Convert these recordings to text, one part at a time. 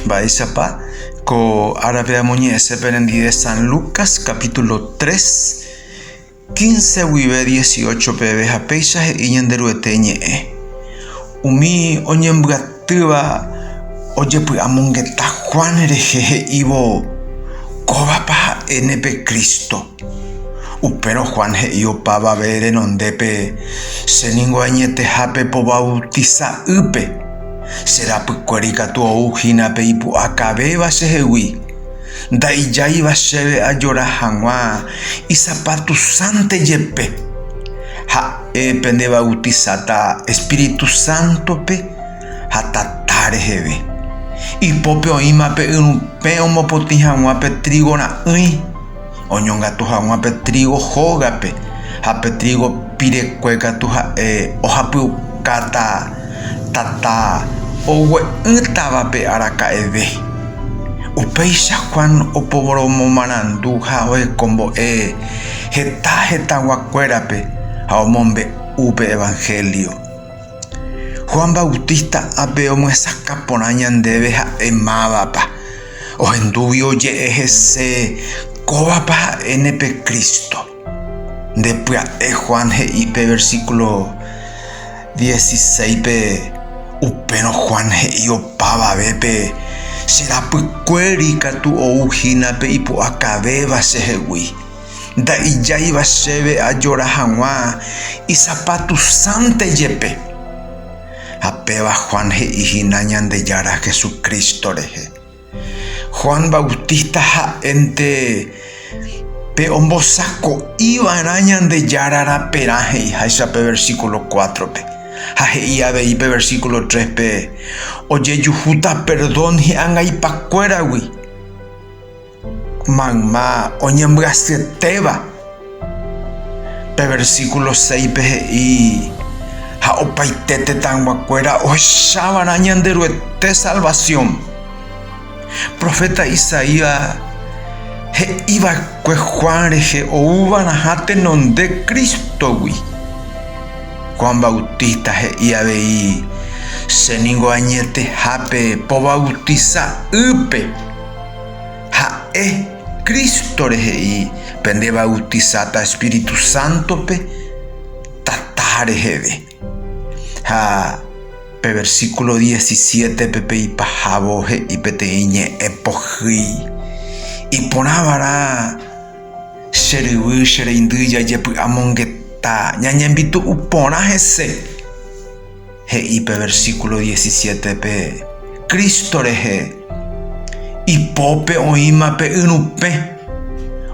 Mba'éichapa ko árape amoñe'ẽse perendive San Lucas capítulo 3, 15 guive 18 peve ha péicha he'i Ñanderuete ñe'ẽ, Umi oñembyatýva ojepy'amongeta Juan rehe he'ívo, Kóvapa ha'e ne pe Cristo. Upérõ Juan he'i opavave renondépe, Che ningo añetehápe po vautisa'ýpe, che rapykuéra ikatu ou hína pe ipu'akavéva chehegui. Nda'ijáiva chéve ajora hag̃ua isapatusánte jepe. Ha'e pendevautisata espíritu sántope ha tata reheve. Ipópe oĩma pe yrũ pẽ omopotĩ hag̃ua pe trigo ra'ỹi. oñongatu hag̃ua pe trígo hógape, ha pe trígo pirekue katu ha'e ohapyukáta tata ogue'ỹtavape araka'eve. Upéicha Juan oporomomarandu ha ohekombo'e heta hetaguakuérape ha omombe'u pe Evangelio. Juan Bautista ápe omyesakã porã ñandéve ha'e mávapa. Ohendúgui oje'e hese kóvapa ha'éne pe Cristo. Nde pya'e Juan he'i pe versículo 16-pe, upérõ Juan he'i opavavépe, Che rapykuéri katu ou hína pe Ipu'akavéva chehegui. Nda'ijáiva chéve ajora hag̃ua isapatusánte jepe. Ha péva Juan he'i hína Ñandejára Jesucristo rehe. Juan Bautista ha'énte pe ombosako'iva'erã Ñandejára raperã he'iháicha pe versículo cuatro-pe. Ha he'i avei pe versículo tres-pe, Ojejuhúta perdón hi'angaipakuéragui. Mayma oñembyasyetéva. Pe versíkulo séipe he'i, Ha opaite tetãyguakuéra ohechava'erã Ñanderuete salvasión. Proféta Isaías he'i va'ekue Juan rehe ouva'erãha tenonde Crístogui. Juan Bautista he'i avei, Che ningo añetehápe povautisa ýpe. Ha'e, Crístore he'i, Pende bautisáta Espíritu Sántope Tata reheve. Ha pe versíkulo diecisiétepe pe ipahávo he'i peteĩ ñe'ẽ pohýi, Iporãva'erã che ryvy, che reindy jajepy'amongeta ñañembitu'u porã hese. He'i pe versíkulo diesisiétepe Cristo rehe, Ipópe oĩma pe yrupẽ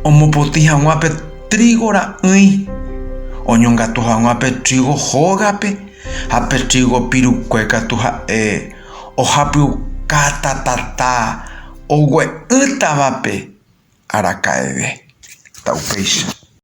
omopotĩ hag̃ua pe trígo ra'ỹi, oñongatu hag̃ua pe trígo hógape, ha pe trígo pirukue katu ha'e ohapyuka tatata ogue'ỹtavape araka'eve. Ta upéicha.